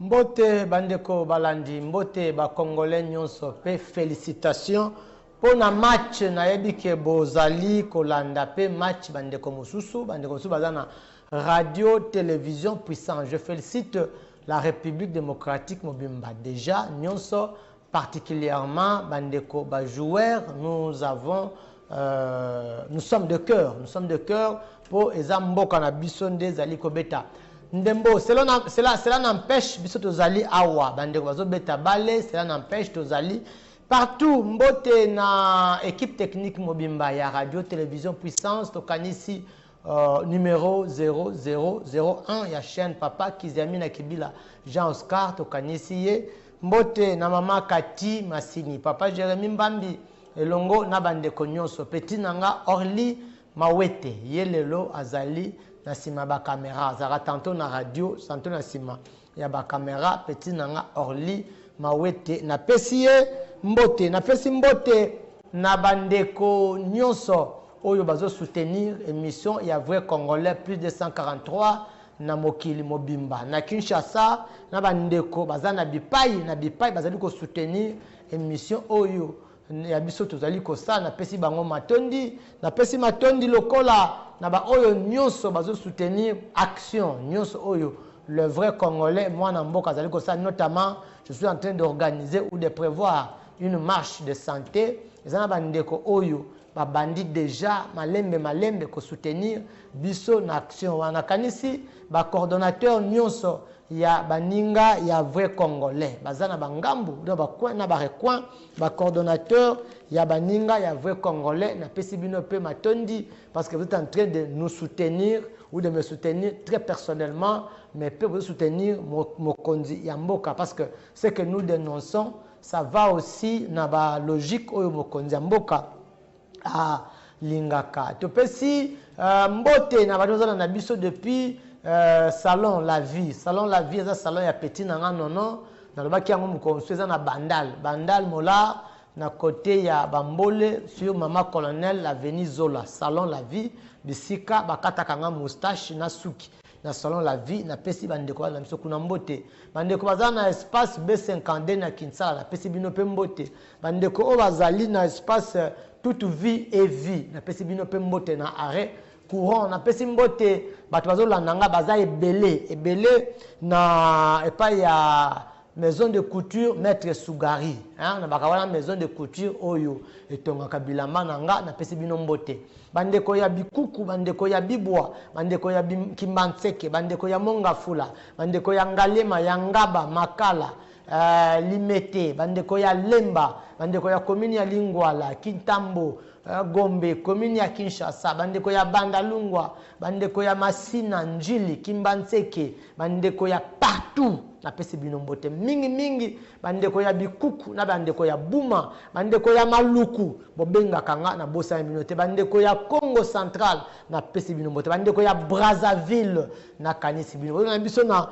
Mbote bandeko balandi, mbote ba congolais nyonso pe felicitations mpo na match nayebi ke bozali kolanda pe match bandeko mosusu bandeko mosusu baza na radio television puissant je felicite la république démocratique mobimba déjà nyonso particulièrement ba ndeko ba joueurs nous avons euh, nous sommes de cœur nous sommes de cœur po eza mboka na biso nde ezali kobeta ndembo cela, na, cela, cela n'empêche biso tozali awa bandeko bazobeta bale cela n'empêche tozali partout mbote na équipe technique mobimba ya radio télévision puissance tokanisi Uh, numero 0001 ya chaine papa kiziami na kibila jean oscar tokanisi ye mbote na mama kati masini papa jeremi mbambi elongo na bandeko nyonso peti na nga orly mawete ye lelo azali na nsima ya bakamera azalaka tanto na radio tanto na nsima ya ba camera petit na nga orly mawete na pesi ye mbote na pesi mbote na ba ndeko nionso oyo bazo soutenir emission ya vrai congolais plus 243 na mokili mobimba na kinshasa na ba ndeko baza na bipayi na bipayi bazali ko soutenir emission oyo ya biso tozali kosala napesi bango matondi napesi matondi lokola na baoyo nyonso bazosoutenir action nyonso oyo le vrai congolais mwana mboka azali kosala notamment je suis en train d'organiser ou de prévoir une marche de santé eza na bandeko oyo babandi deja malembe malembe kosoutenir biso na action wana nakanisi bacoordonnateur nyonso ya baninga ya vrai congolais baza na bangambu na bacoin na barecoin Ba coordonnateurs ya baninga ya vrai congolais na pesi bino pe matondi parce que vous etes en train de nous soutenir ou de me soutenir très personnellement mais pe bozo soutenir mokonzi ya mboka parce que ce que nous denonçons ça va aussi na ba logique oyo mokonzi ya mboka a lingaka topesi mbote na batu bazana na biso depuis salon la vie salon la vie eza salon ya petit na nga nono na lobaki yango mokonsu eza na bandal bandal molar na cote ya bambole sur mama colonel la veni zola salon la vie bisika bakataka nga moustache na suki na salon la vie napesi bandeko bana na biso kuna mbote bandeko baza na espace b52 na kinsala napesi bino mpe mbote bandeko oyo bazali na espace euh, toute vie et vie napesi bino mpe mbote na arret courant napesi mbote bato bazolanda nga baza ebele ebele na epai ya Maison de couture maitre Sugari hein, na baka wana maison de couture oyo etongaka bilamba na nga na pesi bino mbote. Bandeko ya bikuku, bandeko ya bibwa, bandeko ya bim, kimbanseke, bandeko ya mongafula, bandeko ya ngalema, ya ngaba, makala, uh, limete, bandeko ya lemba, bandeko ya commune ya lingwala, kintambo, uh, gombe, commune ya kinshasa, bandeko ya bandalungwa, bandeko ya masina, njili, kimbanseke, Ba ndeko ya partout na pesi bino mbote mingi mingi ba ndeko ya bikuku na ba ndeko ya buma ba ndeko ya maluku bo bengaka nga na bosani bino te ba ndeko ya congo central na pesi bino mbote ba ndeko ya Brazzaville na kanisi bino bozo na biso na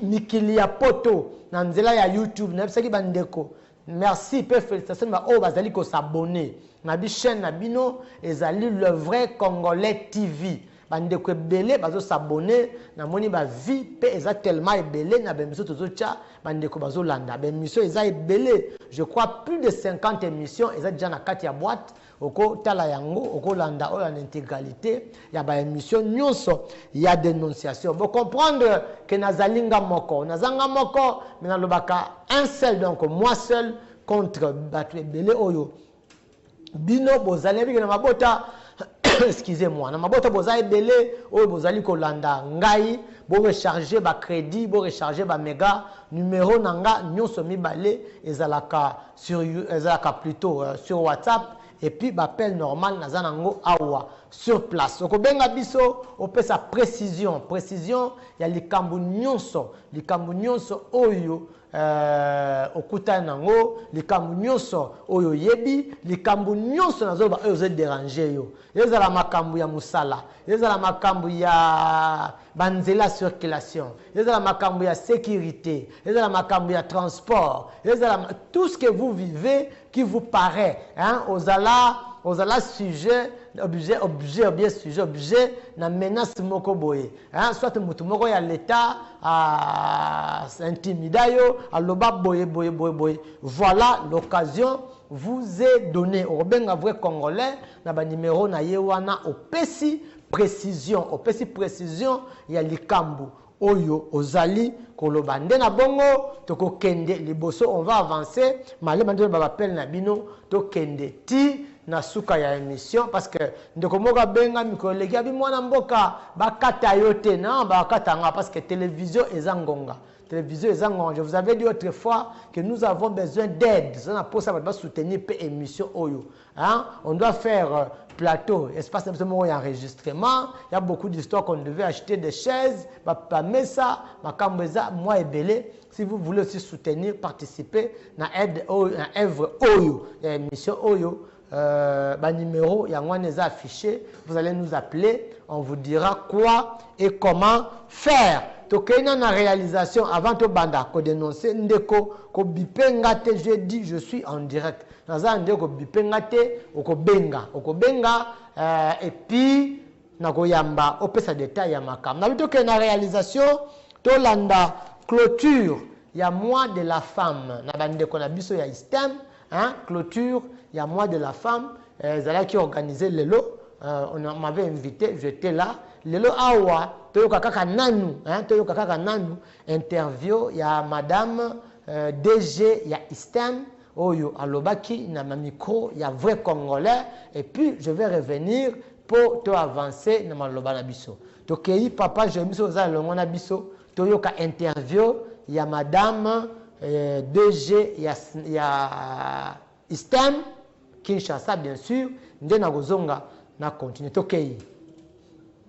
mikili ya poto na nzela ya youtube na yebisaki ba ndeko Merci pe felicitations na ba oyo bazali ko s'abonner na bi chaine na bino ezali le vrai congolais TV ba ndeko ebele bazo s'abonner na moni ba vie pe eza tellement ebele na ba emission tozo tia ba ndeko bazo landa ba emission eza ebele je crois plus de 50 emission eza dejà na kati ya boite Oko tala yango, oko landa oyo en integralite ya ba emissions nionso ya denonciation. Bo comprendre que nazali nga moko. Naza nga moko mais nalobaka un seul donc moi seul contre batu ebele oyo bino bozali nayebi que na mabota excusez moi na mabota boza ebele oyo bozali kolanda ngai bo recharger ba credit bo recharger ba mega numero na nga nionso mibale ezalaka sur you ezalaka plutot sur WhatsApp et puis ba appel normal naza na ngo awa sur place oko benga biso opesa precision precision ya likambu nionso likambu nionso oyo euh, okutani na ngo likambu nionso oyo oyebi likambu nionso nazo loba oyo ozo deranger yo ezala makambu ya musala ezala makambu ya ba nzela circulation, ezala makambu ya securite, ezala makambu ya transport, ezala tout ce que vous vivez qui vous parait hein ozala ozala sujet objet objet ou bien sujet objet na menace moko boye hein soit mutu moko ya l'etat a intimida yo aloba boye boye boye boye voilà l'occasion vous est donne okobenga vrai congolais na ba numero na ye wana opesi Precision, opesi precision ya likambu oyo ozali koloba nde na bongo toko kende liboso on va avancer malema nde ba appel na bino to kende ti na suka ya emission parce que ndeko moko abenga mikolo eleki abi muana mboka ba kata yo te non ba kata nga parce que television eza ngonga television eza ngonga je vous avais dit autre fois que nous avons besoin d'aide toza na posa batu ba soutenir pe emission oyo Hein? On doit faire euh, plateau, espace na biso moko ya enregistrement, ya beaucoup d'histoires qu'on devait acheter des chaises, ba mesa, makambo eza mwa ebele. Si vous voulez aussi soutenir, participer na aide oyo, na œuvre oyo, ya émission oyo, euh, ba numéro yango wana eza affiché, vous allez nous appeler, on vous dira quoi et comment faire. tokei na na réalisation avant tobanda kodénonce ndeko kobipe nga te je dis je suis en direct Naza na ndeko bipe nga te okobenga okobenga eh, et puis nakoyamba opesa detail ya makambo nabi tokende na realisation tolanda clôture ya mois de la femme na bandeko na biso ya istem hein, clôture ya mois de la femme eh, ezalaki eh, organise lelo eh, on m'avait invité j'étais là lelo awa toyoka kaka nanu hein, toyoka kaka nanu interview ya madame eh, dg ya istem oyo alobaki na ma micro ya vrai congolais et puis je vais revenir po to avance na maloba na biso tokeyi papa Jeremie soki oza elongo na biso toyoka interview ya madame euh, DG ya, ya ISTEM Kinshasa bien sûr nde nakozonga na continue tokeyi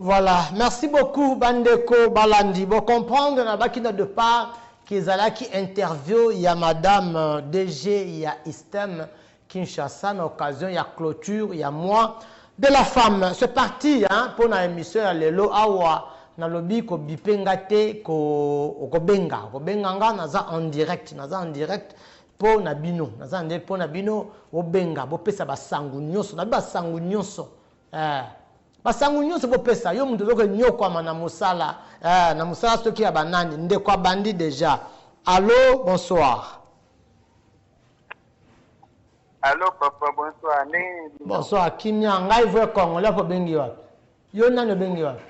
Voilà, merci beaucoup bandeko balandi bo comprendre na baki na de part kezalaki interview ya madame euh, DG ya Istem Kinshasa na occasion ya clôture ya mois de la femme. C'est parti hein, pour na émission ya lelo awa nalobi kobipe nga te okobenga okobenga nga naza en direct naza en direct mpo na bino naza en direct mpo na bino obenga bopesa basango nyonso nabi basango nyonso Eh, ba sango nyoso bo pesa yo mutu ozoko nyokwama na musala eh, na musala soki ya banani ndeko abandi deja allo bonsoir Allô papa bonsoir ndenge nini bonsoir kimia ngai vrai congolais apo obengi wapi yo nani obengi wapi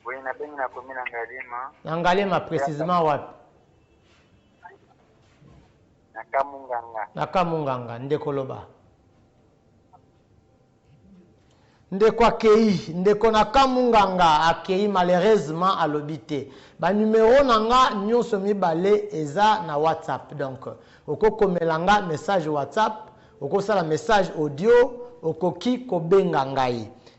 oui nabengi nakomi na ngalema na ngalema précisement wapi na kamunganga na kamunganga ndeko loba Ndeko akeyi. Ndeko na ka munganga akeyi malheureusement alobi te. Ba numero na nga nionso mibale eza na WhatsApp donc oko komela nga message WhatsApp, oko sala message audio, okoki ko benga ngai.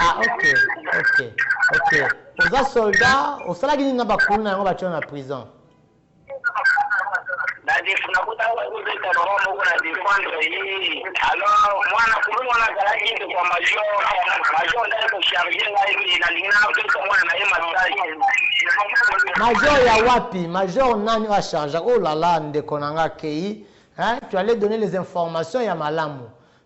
Ah, ok, ok, ok. Oza soldat, osalaki nini na bakulu na yango batyo na prison? Major ya wapi? Major nani oyo acharge? Oh la la, ndeko na nga kei. Hein tu allais donner les informations ya malamu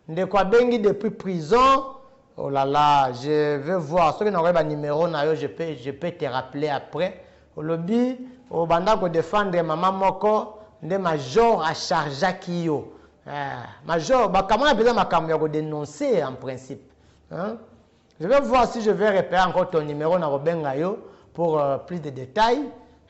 ndeko abengi depuis prison oh la la je veux voir soki nakoki ba numero na yo je peux je peux te rappeler après olobi obanda ko defendre maman moko nde major a chargeaki yo eh major ba kamwana penza makambo ya ko denoncer en principe hein Je vais voir si je vais repère encore ton numero na kobenga yo pour euh, plus de détails.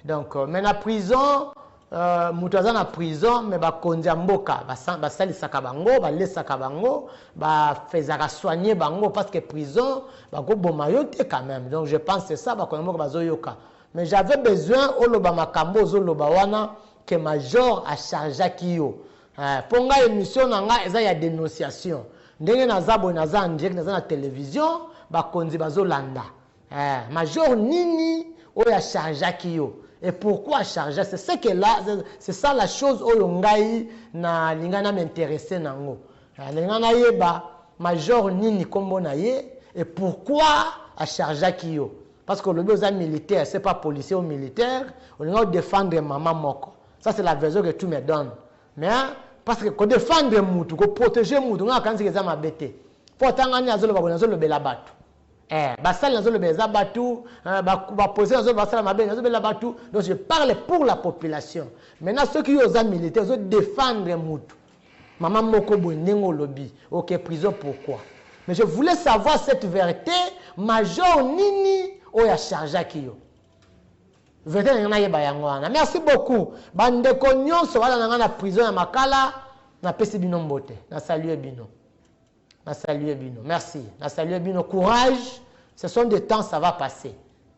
Donc, euh, mais na prison, euh, moto aza na prison me bakonzi ya mboka basalisaka bango balesaka bango bafezaka soigne bango parce que prison bakoboma yo te quand même donc je pense c'est ça bakonzi ya mboka bazoyoka mais j'avais besoin oloba makambo ozoloba wana que major achargeaki yo Eh po nga emission na nga eza ya denonciation ndenge naza boye naza en direct naza na television ba konzi bazo landa eh major nini oyo a chargeaki yo et pourquoi a chargea c'est ce que là c'est ça la chose oyo ngai na linga na m'interesser na ngo eh na linga na yeba major nini kombo na ye et pourquoi a chargeaki yo parce que olobi oza militaire c'est pas policier ou militaire olinga o defendre maman moko Ça c'est la version que tu me donnes. Mais parce que ko défendre mutu, ko protéger mutu, nga kanzi eza mabe te. Po tanga ni azoloba ko nazo lobela batu. Eh, basali nazo lobela eza batu, eh, ba ba poser nazo basala mabe nazo lobela batu. Donc je parle pour la population. Maintenant ceux qui oza militaire, ozo défendre mutu. Maman moko boye ndenge olobi, OK prison pourquoi? Mais je voulais savoir cette vérité, major nini oyo achargeaki yo? Verite nalingi nayeba yango wana. Merci beaucoup ba ndeko nionso balanda ngai na prison ya makala napesi bino mbote na salue bino na salue bino merci na salue bino courage ce sont des temps ça va passer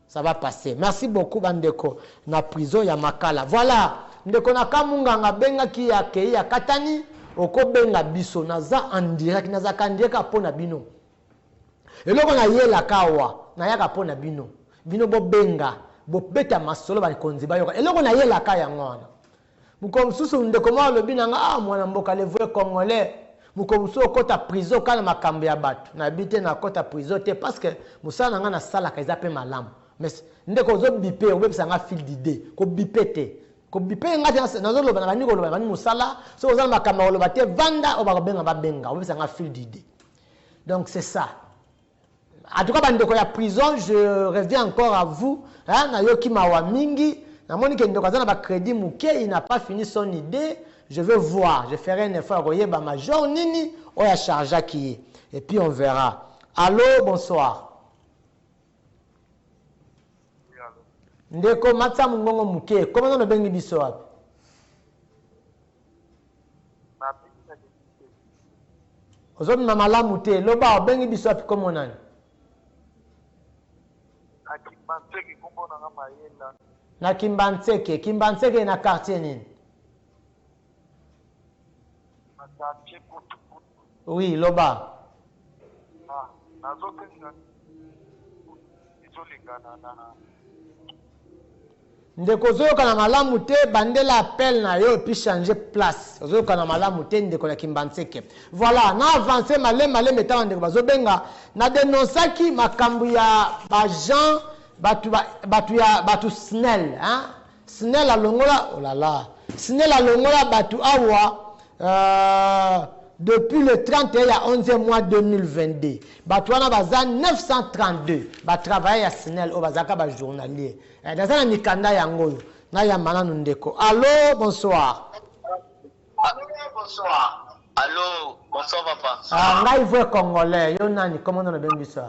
ça va passer merci beaucoup ba ndeko na prison ya makala voilà ndeko na kamunganga abengaki ya kei ya katani okobenga biso naza en direct nazaka en direct mpo na bino Eloko na yelaka awa, na yaka po na bino. Bino bo benga, bo beta masolo ba konzi ba yoka. Eloko na yelaka yango wana. Mokolo mosusu ndeko moko alobi na nga, ah mwana mboka le vrai congolais, mokolo mosusu okota prison kaka na makambo ya bato. Na yebi te na kota prison te parce que mosala na nga na salaka eza pe malamu. Mais ndeko ozo bipe, obebisa nga fil d'idee. Ko bipe te. Ko bipe nga te, nazo loba, na bandi ko loba, na bandi mosala. Soki oza na makambo ya ko loba te, vanda, oyo ba ko benga ba benga. Obebisa nga fil d'idee. Donc c'est ça. En tout cas, bandeko ya prison, je reviens encore à vous. Hein, na yoki mawa mingi. Na moni ke ndoka zana ba crédit mouke, il n'a pas fini son idée. Je veux voir, je ferai un effort koye ba major nini oya chargea qui est. Et puis on verra. Allô, bonsoir. Ndeko matsa mungongo mouke. Comment on bengi biso wapi? ozobima malamu te loba obengi biso wapi kombo nani na kimbanseke kimbanseke na quartier nini Oui, loba. Na, nazo pesa izo lingana na ndeko ozoyokana malamu te bandela appel na yo epuis change place ozoyokana malamu te ndeko na kimbanseke voilà na avance malema malema etala ndeko bazobenga na denonsaki makambo ya bajean bato ya bato snel hein? Snella longola oh la la Snella longola batu awa euh, depuis le 31 ya 11 mois 2022 batu wana baza 932 ba travailler ya Snella oyo bazalaka ba journalier eh, naza na mikanda yango oyo nayamba nanu ndeko allo bonsoir Allô, bonsoir papa. Ah, ngai vrai congolais, yo nani, comment on a bien vu ça?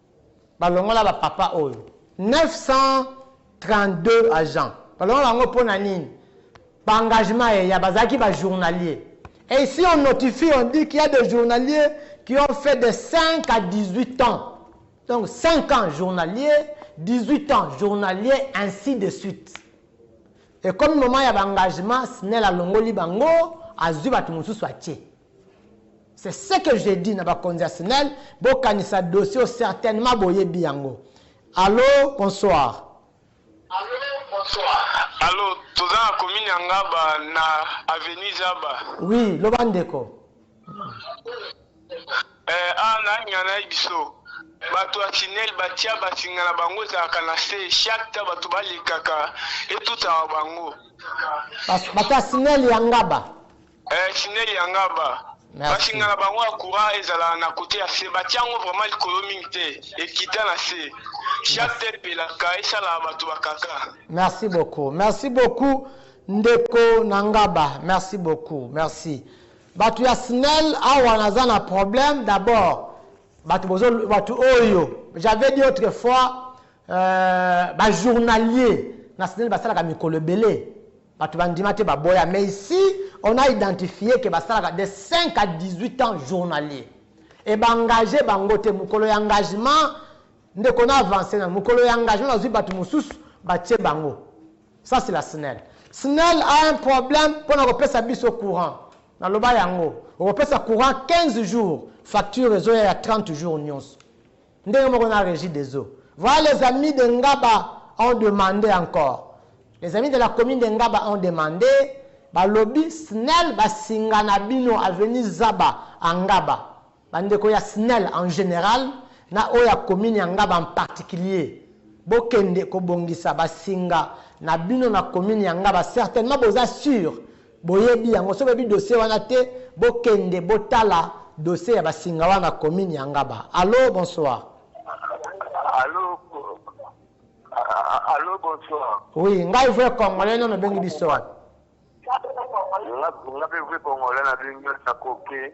Balongola ba papa oyo 932 agent balongola bango pona nini ba engagement eya bazalaki ba journalier et ici on notifie on dit qu'il ya des journaliers qui ont fait de 5 à 18 ans donc 5 ans journalier 18 ans journalier ainsi de suite ekomi moment ya ba engagement snel alongoli bango azui batu mususu atie C'est ce que j'ai dit na bakonzi ya snel bokanisa dossier oyo certainement boyebi yango. Allo bonsoir. Allo bonsoir. Allo toza na commune ya Ngaba na avenue Zaba. Oui loba ndeko. Eh, ah, na ngana biso bato ya tinel batia basinga na bango ezalaka na se chaque ta bato balekaka etutaka bango bato ya sinel ya ngaba Eh Ciney ya nga ba basi nga na bango ya courant ezala na kote ya se batia yango vraiment likolo mingi te ekita na se chaque te epelaka esala bato bakaka merci beaucoup merci beaucoup ndeko na ngaba merci beaucoup merci bato ya snel awa naza na problème d'abord bato bozo bato oyo j'avais dit autrefois euh, bajournalier na snel basalaka mikolo ebele Batu ba ndima te ba boya mais ici on a identifie que ba salaka de 5 à 18 ans journalier et ba engage bango te mukolo ya engagement ndeko na avance nanu mukolo ya engagement bazui batu mususu ba tie bango ça c'est la snel snel a un problème pona ko pesa biso courant na loba yango okopesa courant 15 jours facture ezoya ya 30 jours nionso Ndenge moko na regie des eaux. Voilà les amis de Ngaba ont demande encore. Les amis de la commune de Ngaba ont demande, balobi snel ba singa na bino avenue Zaba à Ngaba. Ba ndeko ya snel en general na oyo ya commune ya Ngaba en particulier, bo kende ko bongisa ba singa na bino na commune ya Ngaba, certainement boza sur Boyebi yango. Soki boyebi dossier wana te, bokende botala dossier ya ba Singawara na commune ya Ngaba. Allo, bonsoir. Allo, allo bonsoir. Oui, ngai vrai congolais nono obengi biso wapi? Nga pe vrai congolais na bengi yo na koke.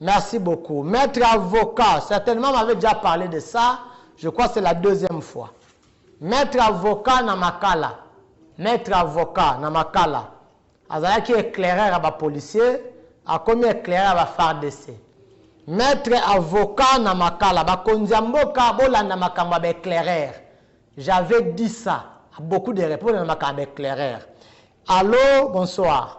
Merci beaucoup maitre avocat certainement m'avait dejà parle de ça je crois c'est la deuxième fois maitre avocat na makala maitre avocat na makala azalaki eclaireur ya ba policier akomi eclaireur ya ba fardc maitre avocat na makala ba konzi ya mboka bolanda makambo ya ba eclaireur j'avais dit ça beaucoup de repondre na makambo ya ba eclaireur allo bonsoir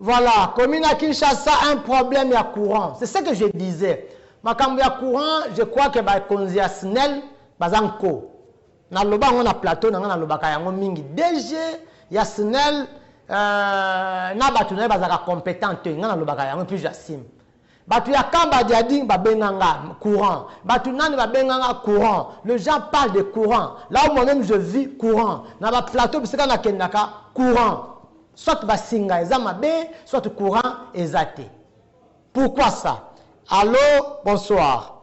Voilà commune ya Kinshasa un problème ya courant c'est ce que je disais makambo ya courant je crois que ba konzi ya snel baza nko na loba yango na plateau na nga na lobaka yango mingi DG ya snel euh, na batu na ye bazaka competent te nga na lobaka yango puis j'assume Batu ya camp ba diading ba benga nga courant batu nani ba benga nga courant le gens parle de courant là où moi meme je vis courant na ba plateau bisika na kendaka courant soit ba singa eza mabe soit courant eza te pourquoi ça allo bonsoir.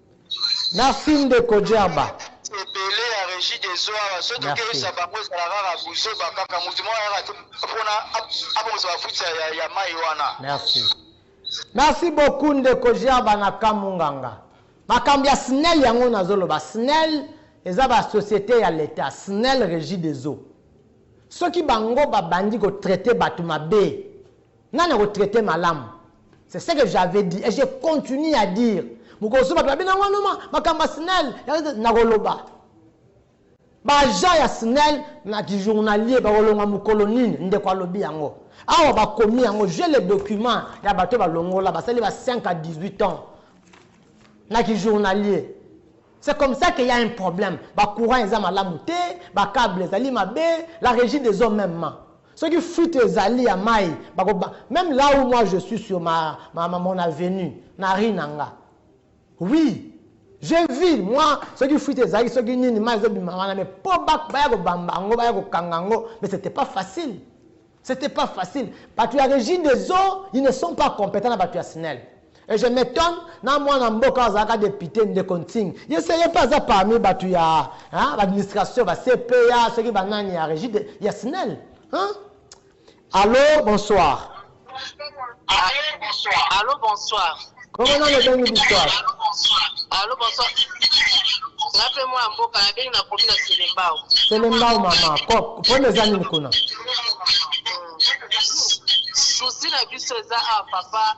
Merci ndeko Djerba. ebele ya regie des eaux awa soki Merci. tokeyisa bango ezala kaka buzoba kaka motu moko ayaka te mpona abongisa bafuti ya- ya- ya mai wana Merci. Merci beaucoup ndeko Gerba na Kamunganga. Makambo ya SNEL yango nazoloba. SNEL eza ba société ya l'État. SNEL Régie des eaux. Soki bango babandi ko traiter bato mabe, Nani ako traiter malamu? C'est ce que j'avais dit et je continue à dire mokosu batu babina ngo numa makambo ya snel nakoloba ba agent ya snel na ki journalier bakolonga mokolo nini ndeko alobi yango awa bakomi yango je le document ya bato balongola basali ba 5 à 18 ans na ki journalier C'est comme ça qu'il y a un problème. Ba courant eza malamu te, ba cable ezali mabe, la régie des eaux même. Soki fuite ezali ya mayi bako ba meme là où moi je suis sur ma ma ma mon avenue na rue na nga oui je vis moi soki fuite ezalaki soki nini mayi ezo bima wana mais po ba baya ko bamba yango baya ko kanga yango mais c'etait pas facile c'etait pas facile batu ya regie des eaux ils ne sont pas competents na batu ya snel Et je m'etonne na mwana mboka oyo azalaka depute ndeko Ntsing. Ye se ye mpe aza parmi batu ya hein, ba administration, ba CPA, soki ba nani ya regie de, ya snel hein? Allo, bonsoir. Allo, bonsoir. Allo, bonsoir. Kombo nani obengi biso awa? Allo, bonsoir. Allo, bonsoir. Nga mpe mwana mboka nabengi na komi na Selembao. Selembao mama, ko- problème eza nini kuna? souci na biso eza a ah, papa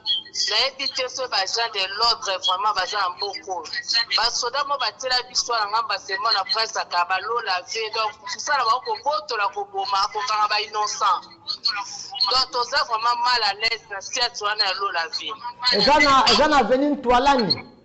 nayebi te so baagent de l'ordre vraiment baza na mboka oyo basoda mo batela biso na ngamba semo na prince akaba lola ve donc kosala bango kobotola koboma kokanga ba innocent donc toza vraiment mal à l'aise na siate wana ya lola ve eza na aveni ntwalani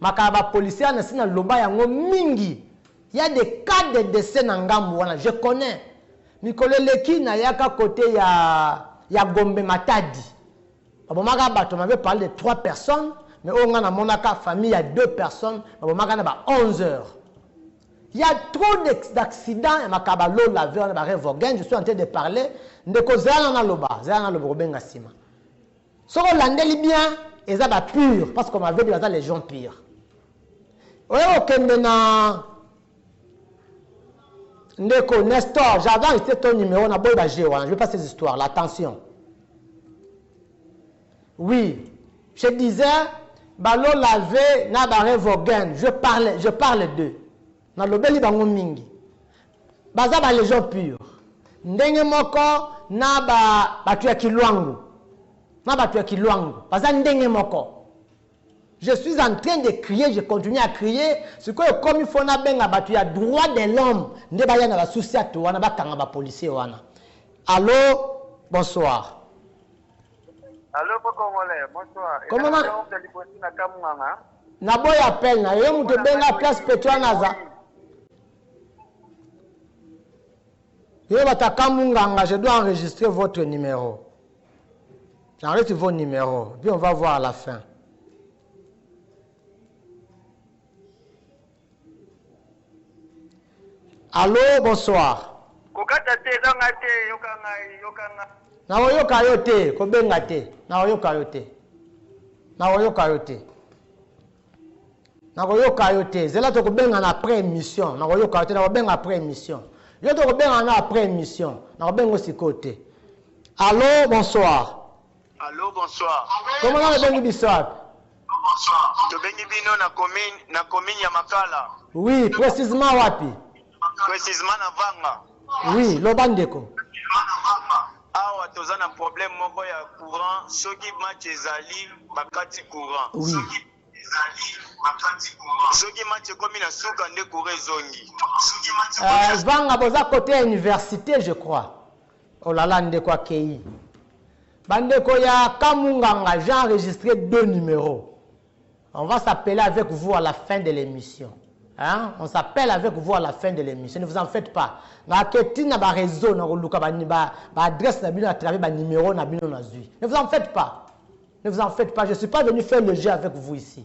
Maka ya ba policiers ya nasi na loba yango mingi ya de cas de decès na ngambu wana je connais mikolo eleki na yaka cote ya ya gombe matadi ba bomaka batu on m'avait parle de trois personnes mais oyo nga na monaka famille ya deux personnes ba bomaka na ba 11 heures ya trop d'accident ya maka ba low laver na ba revogen je suis en train de parler ndeko zala na loba zala na loba kobenga sima Soki olandeli bien eza ba pure parce qu'on m'avait dit baza les gens pure. Oye okende na ndeko Nestor, j'avais enregistré ton numéro na boy ba jeu wana, je veux pas ces histoires là, attention. Oui, je disais balo laver na ba revogen, je parle je parle d'eux. Na lobeli bango mingi. Baza ba legion pure ndenge moko na ba batu ya kiluangu na batu ya kiluangu baza ndenge moko je suis en train de crier je continue à crier sikoyo ekomi fo nabenga batu ya droit de l'homme nde baya na basusiatu wana bakanga ba policier wana allo bonsoir Allo ko congolais, bonsoir. Comment na- Ezali Oncle Libosi na Kamunganga. naboya appel na yo yo moto obenga place petuanaza Yo bataka munganga, je dois enregistrer votre numéro. J'enregistre vos numéros, puis on va voir à la fin. Allô, bonsoir. kokata te eza ngai te yoka ngai yoka ngai nakoyoka yo te kobenga te nakoyoka yo te nakoyoka yo te nakoyoka yo te zela tokobengana après émission nakoyoka yo te nakobenga après émission yo tokobengana na après émission nakobenga sikoyo te allo bonsoir Allô, bonsoir. Comment on bengi Bissap Bonsoir. Tobengi bino na commune na commune ya Makala. Oui, précisément wapi Precisement na Vanga. Oui, loba ndeko. awa toza na problème moko ya courant soki match ezali bakati courant oui. soki match ekomi na suka nde courant ezongi euh, vanga boza kote ya université je crois olala oh ndeko akei bandeko ya kamunganga j'ai enregistré deux numéros On va s'appeler avec vous à la fin de l'emission hein on s'appelle avec vous à la fin de l'emission ne vous en faites pas nga ke ti na ba réseau na koluka ba ba, ba adresse na bino à travers ba numéro na bino na zui ne vous en faites pas ne vous en faites pas je suis pas venu faire le jeu avec vous ici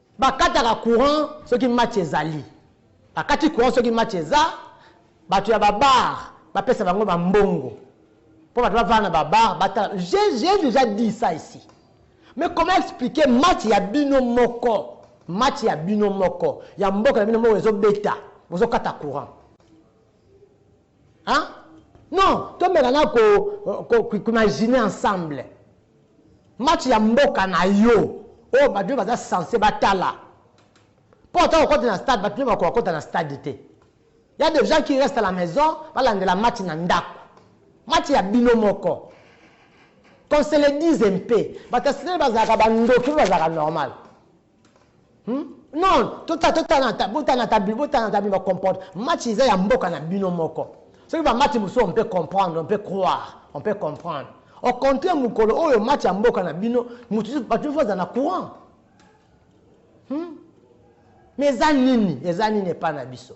Bakataka courant soki match ezali. Bakati courant soki match eza. Batu ya ba bar bapesa bango ba mbongo po batu bavanda na ba bar batala. J'ai j'ai dejà dit ça ici. Mais comment expliquer match ya bino moko, match ya bino moko, ya mboka na bino moko ezobeta, bozokata courant? Hein? Non, tomeka na ko, ko, ko, imaginer ensemble. Match ya mboka na yo, oyo oh, bato baza sense batala. Mpo ata kokota na stade, bato bakoka kokota na stade te. Ya des gens qui restent à la maison, balandela match na ndako. Match ya bino moko. qu'on se le dise mpe bato ya sitele bazalaka bandoki mpe bazalaka normal Hmm? Non, tota tota na ta bota na ta bi bota na ta bi ba comporte. Match eza ya mboka na bino moko. Ce qui va match muso on peut comprendre, on peut croire, on peut comprendre. Au contraire mukolo oyo match ya mboka na bino mutu ba tu faut na courant. Hmm? Mais eza nini? Eza nini epa na biso?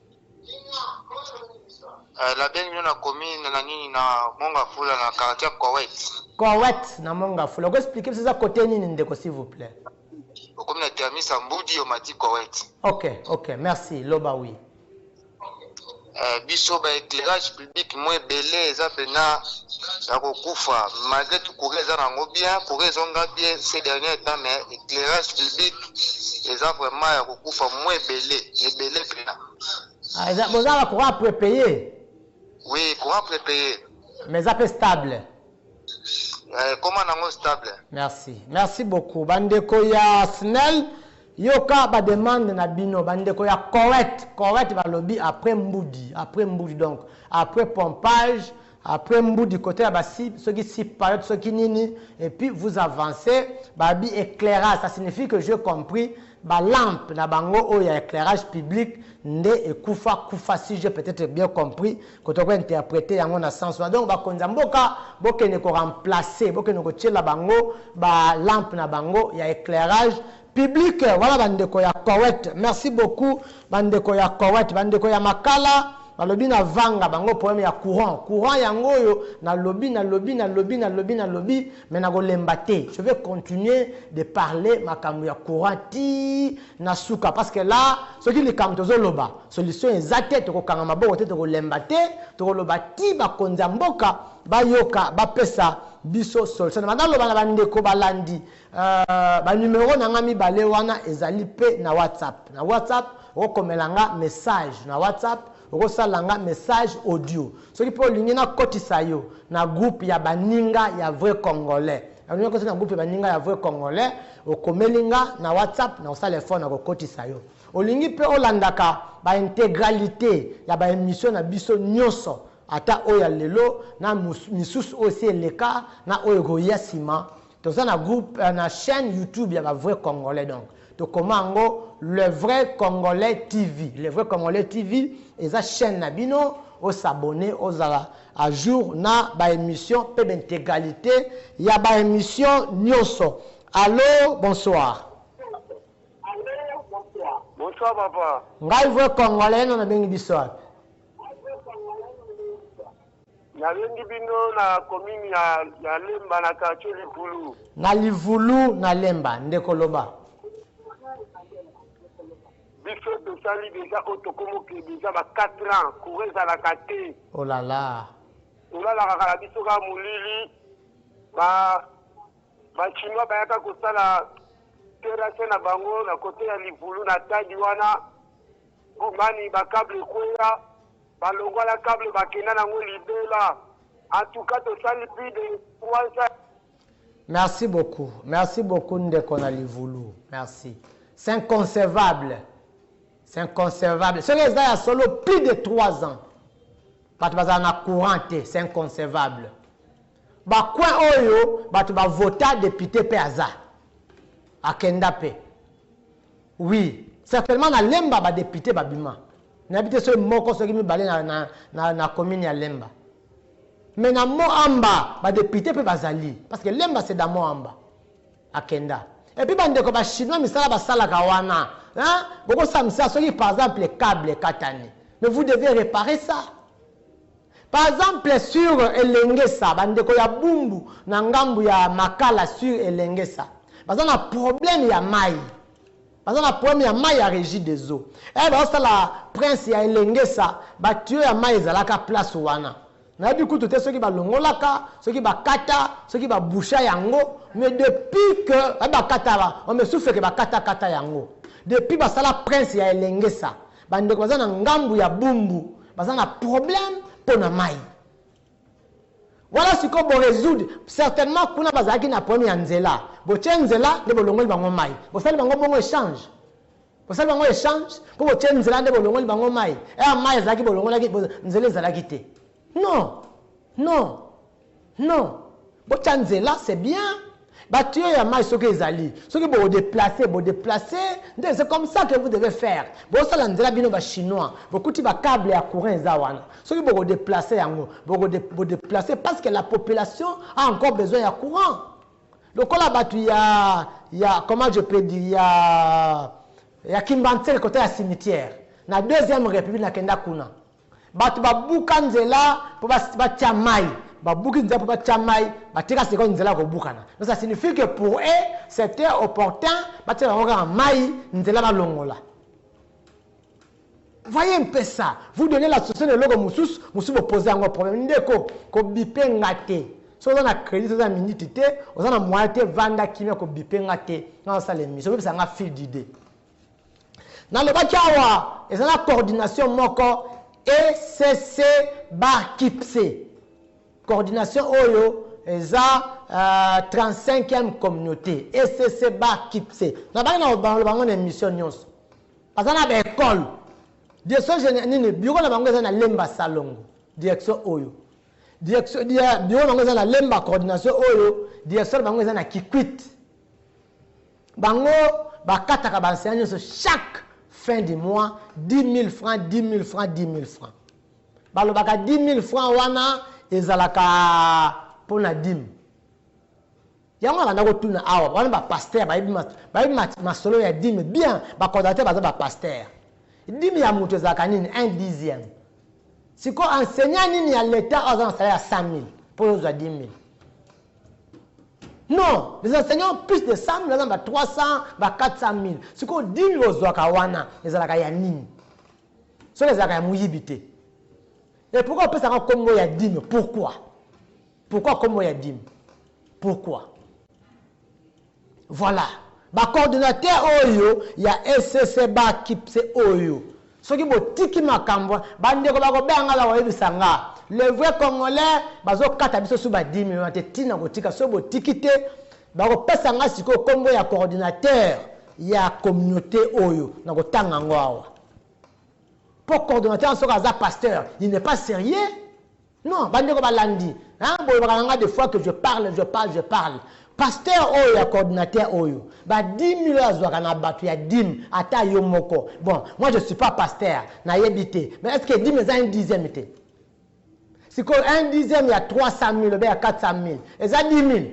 Eh, la belle mio na commune na nini na Mongafula na quartier Koweït. Koweït na Mongafula. Oko expliquer biso eza côté nini ndeko s'il vous plaît. Okomi na Termisa Mbudi omati Koweït. OK, OK, merci. Loba oui. Eh, biso ba éclairage Bic mwa ebele eza pena ya kokufa malgre tout courant eza nango bien courant ezonga bien ce dernier temps mais éclairage public eza vraiment ya kokufa mwa ebele ebele pena Ah, eza- boza na courant prepaye oui courant prépayé mais eza mpe stable eh, koma nango stable merci merci beaucoup bandeko ya snel Yoka ba demande na bino ba ndeko ya coet coet balobi apres mbudi apres mbudi donc apres pompage apres mbudi cote ya ba si soki si payot soki nini et puis vous avance babi eclairage sa signifie que je compris ba lampe na bango oyo ya eclairage public nde ekufa kufa si je peut etre bien compris Koto ko interpreter yango na sens wana. Donc bakonzi ya mboka bokende ko remplacer, bokende kotiela bango ba lampes na bango ya eclairage public. Wana ba ndeko ya Koet. Merci beaucoup ba ndeko ya Koet. Ba ndeko ya Makala balobi na vanga bango problème ya courant. Courant yango oyo nalobi, nalobi, nalobi, nalobi, nalobi mais nakolemba te. Je vais continuer de parler makambo ya courant tii. Na suka parce que là soki likambo tozo loba solution eza te toko kanga maboko te toko lemba te toko loba tii ba konzi ya mboka ba yoka ba pesa biso solution na banda loba na ba ndeko ba landi euh ba numero na nga mibale wana ezali pe na WhatsApp na WhatsApp oko komela nga message na WhatsApp Okosala nga message audio soki pe olingi na kotisa yo na groupe ya baninga ya vrai congolais olingi okotisa na groupe ya baninga ya vrai congolais okomeli nga na WhatsApp nakosala effort na kokotisa yo olingi pe olandaka ba integralite ya ba emission na biso nionso ata oyo ya lelo na misusu oyo esi eleka na oyo ekoya sima Toza na groupe na chaine YouTube ya ba vrai congolais donc to koma yango le vrai congolais TV le vrai congolais TV eza chaine na bino o s'abonner ozala a jour na ba emission pe b'integralite ya ba emission nionso allo bonsoir. Bonsoir papa. Ngai vrai congolais no na bengi biso wapi? Nalengi bino na commune ya, ya Lemba na quartier Livulu. Na Livulu na Lemba ndeko loba. Biso tosali deja oyo tokomoke deja ba 4 ans courant ezalaka te. Oh la la. Tolalaka kala biso kaka molili ba ba chinois bayaka kosala terrasse na bango na kote ya Livulu na tadi wana bomani ba cable ekweya Ba longwa na cable ba kenda na ngo libela en tout cas to sali plus de 3 ans. Merci beaucoup merci beaucoup ndeko na livulu merci c'est inconcevable c'est inconcevable soki eza ya solo plus de 3 ans bato bazala na courant te c'est inconcevable bacoin oyo bato bavota depute mpe aza akenda mpe Oui, certainement na Lemba ba depute ba bima. Na bite soki moko soki mibale na na na, na commune ya Lemba. Mais na Moamba ba depute pe bazali parce que Lemba c'est dans Moamba. Akenda. Et puis bandeko ba chinois misala basalaka wana, hein? Boko samisa soki par exemple cable katani. Mais vous devez reparer ça. Par exemple sur Elengesa, ba ndeko ya Bumbu na ngambu ya Makala sur Elengesa, baza na problème ya mayi, baza na problème ya mayi ya Regideso. Heure bazo sala prince ya Elengesa, ba tuyaux ya mayi ezalaka place wana. Nayebi kutu te soki ba longolaka, soki ba kata, soki ba boucha yango, mais depuis que ba kata, on me souffle que ba kata kata yango. Depuis basala prince ya Elengesa, Ba ndeko baza na ngambu ya bumbu baza na problème pona mayi. Wana sikoyo bo resoudre certainement kuna bazalaki na problème ya nzela botie nzela nde bolongoli bango mayi bosali bango bongo echange bosali bango echange po botie nzela nde bolongoli bango mayi eh mayi ezalaki bolongolaki nzela ezalaki te non non Non botia nzela c'est bien ba tuyaux ya mayi soki ezali soki boko deplacer bo deplacer nde c'est comme ça que vous devez faire bosala nzela bino ba chinois bokuti ba cable ya courant eza wana soki boko deplacer yango boko bo deplacer parce que la population a encore besoin ya courant lokola batu ya ya comment je peux dire ya ya kimbanseke kote ya cimetière na deuxième republique nakenda kuna Bato babuka nzela po batia mayi, babuki nzela po batia mayi, batika sikoyo nzela ya kobukana. Donc ça signifie que pour eux c'etait opportun batiela bango kaka mayi, nzela balongola. Voyez un peu ça, vous donnez la solution na eloko mosusu, mosusu bo poser yango problème. Ndeko, ko biper nga te. Soki oza na credit, oza na minute te, oza na moyen te, vanda kimia, ko biper nga te. Nga nazo sala emission, obebisa nga fil d'idee. Nalobaki awa eza na coordination moko ECC ba KIPSE. Coordination oyo eza uh, 35e communauté ECC ba KIPSE. Nabaki na kobalola bango na emission nyonso. Baza na ba école. Direction générale nini bureau na bango eza na Lemba Salongo. Direction oyo. Direction bureau na bango eza na Lemba coordination oyo. Direction na bango eza na Kikwit. Bango ba kataka ba enseignants nionso chaque fin du mois 10.000 francs, 10.000 francs, 10.000 francs. Balobaka 10.000 francs wana ezalaka pona dime. Yango nabanda kotuna awa, wana ba pasteur bayebi bayebi masolo ya dime bien, ba coordinateur baza ba pasteur. Dime ya moto ezalaka nini? Un dixième. Sikoyo enseignant nini ya l'etat oyo aza na salaire ya 100.000 po ozwa 10.000? Non, les enseignants plus de 100 000 baza na ba 300, ba 400 000. Sikoyo dimi bozwaka wana ezalaka ya nini? Soki ezalaka ya moyibi te. Et pourquoi opesaka kombo ya dime pourquoi pourquoi kombo ya dime pourquoi Voilà ba coordinateur oyo ya ECC ba kipse oyo soki botiki makambo ba ndeko ba kobenga nga ba koyebisa nga le vrai congolais bazo kata biso su ba 10.000 wana te tina kotika soki botiki te ba kopesa nga sikoyo kombo ya coordinateur ya communaute oyo na kotanga yango awa po coordinateur soki aza pasteur il n'est pas serieux Non ba ndeko ba landi hein bolobaka na nga de fois que je parle je parle je parle pasteur oyo ya coordinateur oyo ba 10000 oyo azwaka na batu ya dime ata yo moko bon moi je suis pas pasteur na yebi te mais est ce que dime eza un dixième te sikoyo un dixième ya 300000 obe ya 400000 eza 10000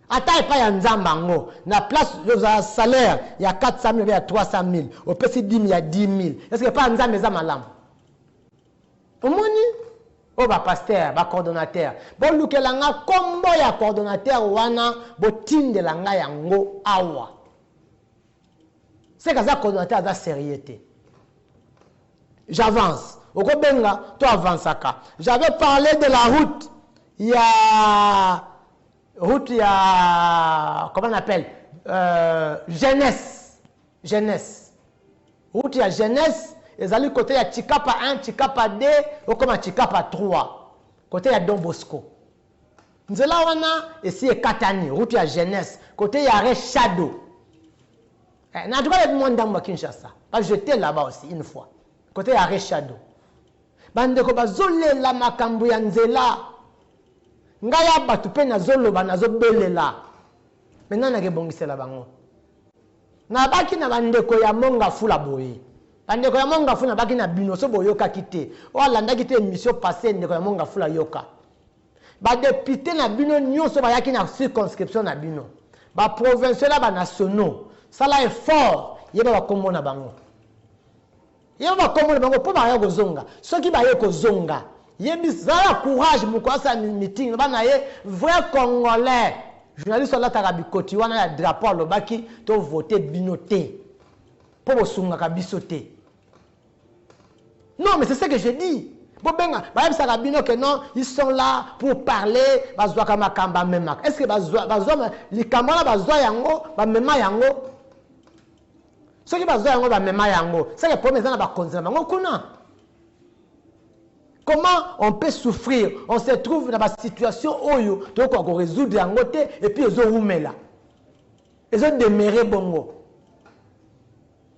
ata epai ya nzambe yango na place ozala salaire ya 400000 obe ya 300000 opesi dime ya 10000 est ce que epai ya nzambe eza malamu Omoni? Oyo ba pasteurs, ba coordonnateurs. Bolukela nga kombo ya coordonnateur wana botindela nga yango awa. Seke aza coordonnateur aza serieux te. J'avance. Okobenga to avansaka. J'avais parle de la route ya route ya comment on appelle euh, jeunesse Genese. Route ya Genese ezali cote ya Tshikapa un, Tshikapa deux, okoma Tshikapa trois. Cote ya Don Bosco. Nzela wana esi ekatani, route ya Genese, cote ya Re Shadow. Eh, na tuka le Mwandambo à Kinshasa. Parce que j'étais là-bas aussi une fois. Cote ya Re Shadow. Bandeko bazolela makambo ya nzela. Ngai ya bato mpe nazoloba nazobelela. Maintenant nakebongisela bango. Nabaki na ba ndeko ya mont ngafula boye ba ndeko ya mont ngafula nabaki na bino soki boyokaki te oyo alandaki te emission passe ndeko ya mont ngafula yoka ba depute na bino nionso bayaki na circonscription na bino ba provinciaux na ba nationaux sala effort yeba ba kombo na bango Yeba ba kombo na bango po baya kozonga soki baye kozonga yebisa zala courage mukolo asala meeting loba na ye vrai congolais journaliste oyo alataka bikoti wana ya drapeau alobaki to vote bino te po bosungaka biso te non mais c'est ce que je dis bobenga bayebisaka bino ke non ils sont là pour parler bazwaka makambo bamemaka est ce que bazwa likambo wana bazwa yango bamema yango soki bazwa yango bamema yango ce que problème eza na bakonzi na bango kuna comment on peut souffrir on se trouve na basituation oyo tokoka koresoudre yango te epuis ezowumela ezodemere bongo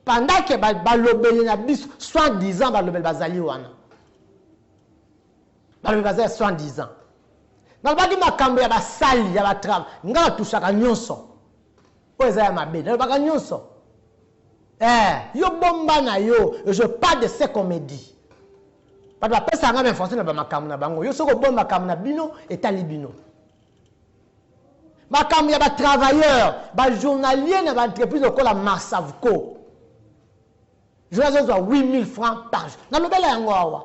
pendant ke balobeli na biso soit disant balobeli bazali wana balobi baza ya soit disant nalobaki makambo ya basali ya batrava ngai batushaka nyonso Oyo eza ya mabe. Nalobaka nyoso. Eh, yo bomba na yo. Je parle de ce qu'on me dit. Bato bapesaka nga ba information na ba makambo na bango. Yo soki obomba makambo na bino, etali bino. makambo ya batravailleur bajournalier na baentreprise lokola marsavco journal azozwa 8000 francs par jour nalobela yango awa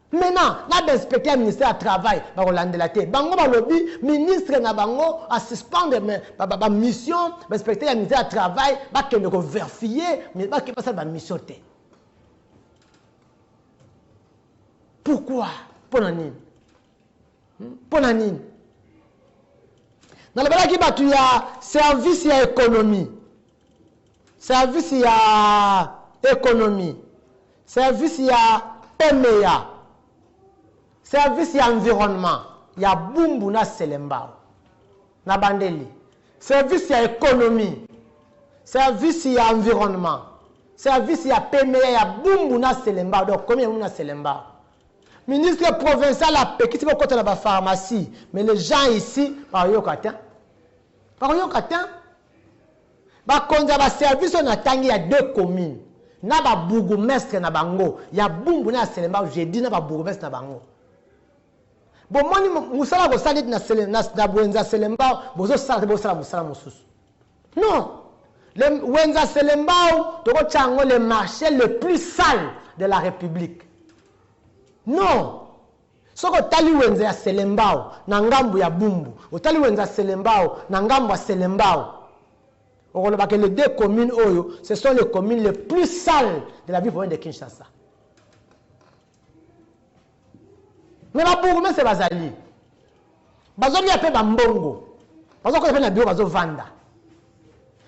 Mena na ba inspecteurs ya ministère ya travail bako landela te bango balobi ministre na bango a suspendre ba mission ba inspecteurs ya ministère ya travail ba kende ko verfier mais ba ke basala ba mission te pourquoi pona nini pona nini nalobalaki bato ya service ya ekonomi Service ya economie, service ya emeya, service ya environnement ya Bumbu na Selembao. Nabandeli, service ya economie, service ya environnement, service ya pemeya ya Bumbu na Selembao, donc commune ya Bumbu na Selembao. Ministre provincial apekisi bokota na ba pharmacies, mais les gens ici bakoyoka tein, bakoyoka tein. Bakonzi ya ba services oyo natangi ya deux communes na ba bourgoumestres na bango ya Bumbu na ya Selembao, j'ai dit na ba bourgoumestres na bango. Bomoni mosala bosali neti na Sele, na, na Wenza Selembao bozosala te, bosala mosala mosusu. Non, le Wenza Selembao tokotya yango le marché le plus sale de la Republique. Non, Soki otali wenze ya Selembao na ngambo ya Bumbu, otali wenze ya Selembao na ngambo ya Selembao, okoloba que les deux communes oyo ce sont les communes les plus sales de la ville province de Kinshasa. Mais ba bourgmestres bazali. bazolia pe bambongo bazokoya pe na biro bazovanda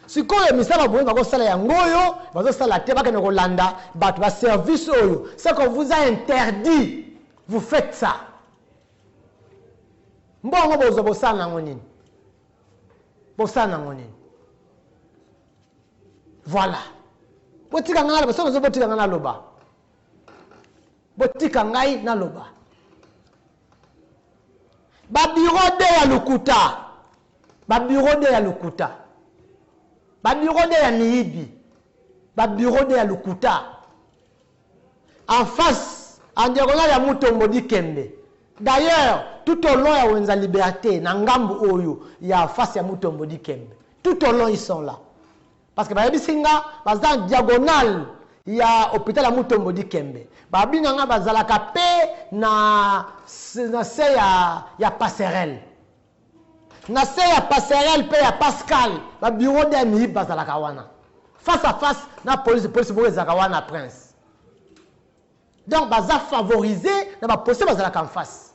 sikoyo misala boye bakosala yango oyo bazosala te bakende kolanda bato ba service oyo seko vous a interdit vous faites ça mbongo bozwa bosala nango nini bosala nango nini voilà botika ngai naloba soki ozo botika ngai naloba botika ngai naloba Ba bureau de ya lokuta. Ba bureau de ya lokuta. Ba bureau de ya miyibi. Ba bureau de ya lokuta. En face en diagonale ya Mutombo Dikembe. D'ailleurs, tout au long ya Wenza Liberte na ngambu oyo ya face ya Mutombo Dikembe. Tout au long ils sont là. Parce que bayebisi nga baza en diagonale ya hopital ya Mutombo Dikembe. Ba bina nga bazalaka pe na na se ya ya passerelle. Na se ya passerelle pe ya Pascal ba bureau de MIB bazalaka wana. Face à face na police police moko ezalaka wana prince. Donc baza favoriser na ba policiers bazalaka en face.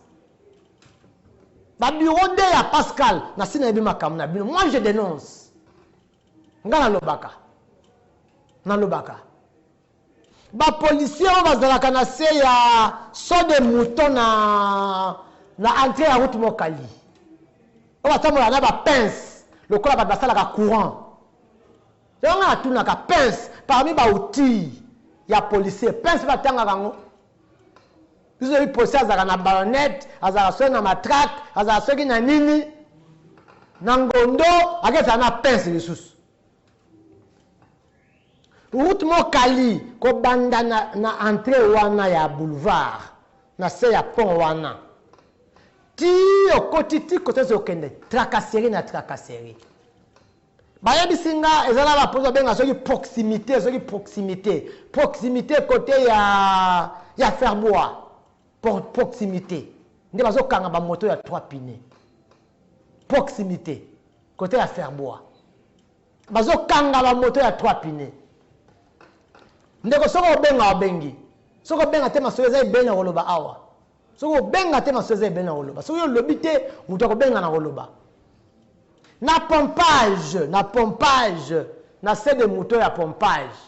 Ba bureau de ya Pascal na sina yebi makambo na bino. Moi je denonce. Nga nalobaka nalobaka ba policiers oyo bazalaka na se ya saut de mouton na na entree ya route Mokali oyo batambolaka na ba pince lokola bato basalaka courant yango nga natunaka pince parmi ba outils ya policier pince batangaka yango Biso toyebi Posy azalaka na ballonnette, azalaka soki na matraque, azalaka soki na nini. Na ngondo akesaka na pince lisusu. Route Mokali kobanda na, na entrée wana ya boulevard na se ya pont wana ti okoti ti kotosi okende tracasserie na tracasserie Bayebisi nga eza na ba produits babenga soki proximite soki proximite proximite cote ya ya ferbois Pro, proximite nde bazokanga ba moto ya trois pine proximite cote ya ferbois bazokanga ba moto ya trois pine ndeko soki obenga obengi soki obenga te masolo eza ebele na koloba awa Soki obenga te masuwa eza ebele na koloba. Soki olobi te moto akobenga na koloba. Na pompage, na pompage, na se de moto ya pompage.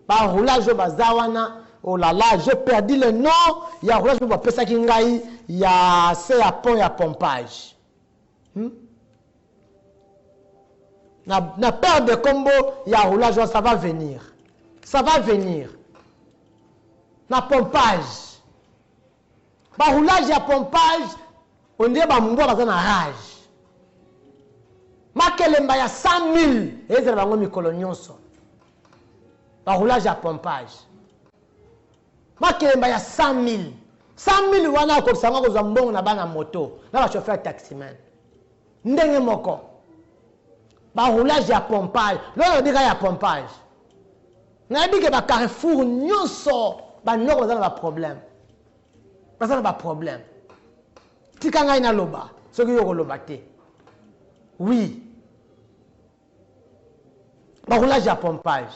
Ba roulage oyo baza wana, oh la la, j'ai perdu le nom ya roulage moko bapesaki ngai ya se ya pont ya pompage. Hmm? Na, na perte de combo ya roulage wana, ça va venir. Ça va venir. Na pompage. Ba roulage ya pompage on dirait ba mbwa baza na rage. Makelemba ya 100.000 ezala bango mikolo nyonso. Ba roulage ya pompage. Makelemba ya 100.000 100.000 wana akobisa yango akozwa mbongo na bana moto na ba chauffeur taximan. Ndenge moko, ba roulage ya pompage, lokola nalobi kaka ya pompage, nayebi ke ba carrefour nionso ba noko baza na ba problème, baza na ba problème, tika ngai naloba soki yo okoloba te, oui Ba roulage ya pompage.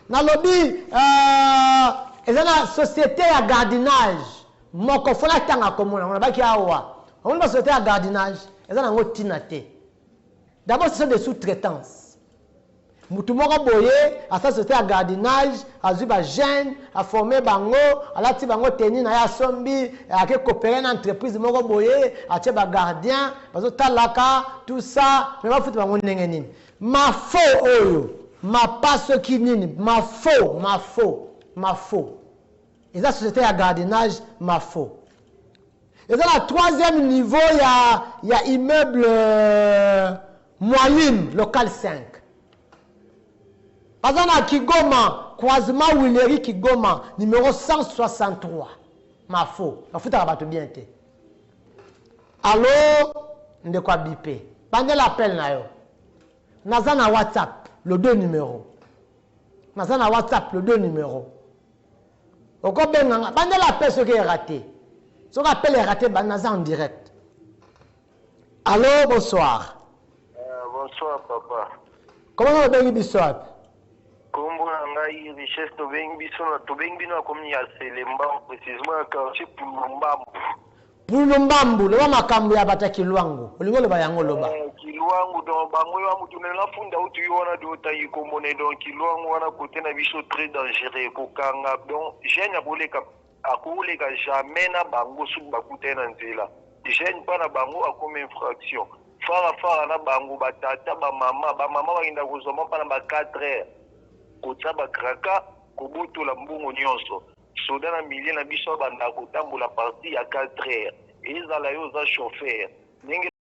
Nalobi euh, eza na societe ya gardinage moko fo natanga komona ngo nabaki awa omoni ba societe ya gardinage eza nango ntina te d'abord ce sont des sous-traitance motu moko boye asala société ya gardinage azwi bajeune aforme bango alati bango teni na ye asombi ake kopere na entreprise moko boye atie bagardien bazo talaka tout ça mais ba futa bango ndenge nini ma faux oyo ma pas soki nini ma faux ma faux ma faux eza société ya gardiennage ma faux eza na troisième niveau ya, ya immeuble euh, moyine local 5 baza na kigoma croisement wileri kigoma numero 163 mafo bafutaka bato bien te Allo ndeko a bipe bandela appel na yo naza na whatsapp le deux numero naza na whatsapp le deux numero okobenga nga bandela appel soki erate soki appel erate naza en direct allo bonsoir uh, bonsoir papa comment obengi biso wapi Kombo na ngai richesse tobengi biso na tobengi bino na commune ya Selemba precisement na quartier Pulumbambu. Pulumbambu loba makambu ya bata Kiluangu olingi oloba yango loba. Eh, Kiluangu donc bango yo amutu mais na funda utu yo wana do tangi kombo ne donc Kiluangu wana cote na biso très dangereux kokanga donc jeune ya koleka Akoleka jamais na bango soki bakutani na nzela. Jeune pas na bango akomi infraction. Fara fara na bango ba tata ba maman ba maman bakendaka kozua mampa na ba quatre heures. Kotia ba craka kobotola mbongo nionso. Soda na milieu na biso abandaka kotambola partir ya quatre heures. Ezala yo oza chauffeur ndenge.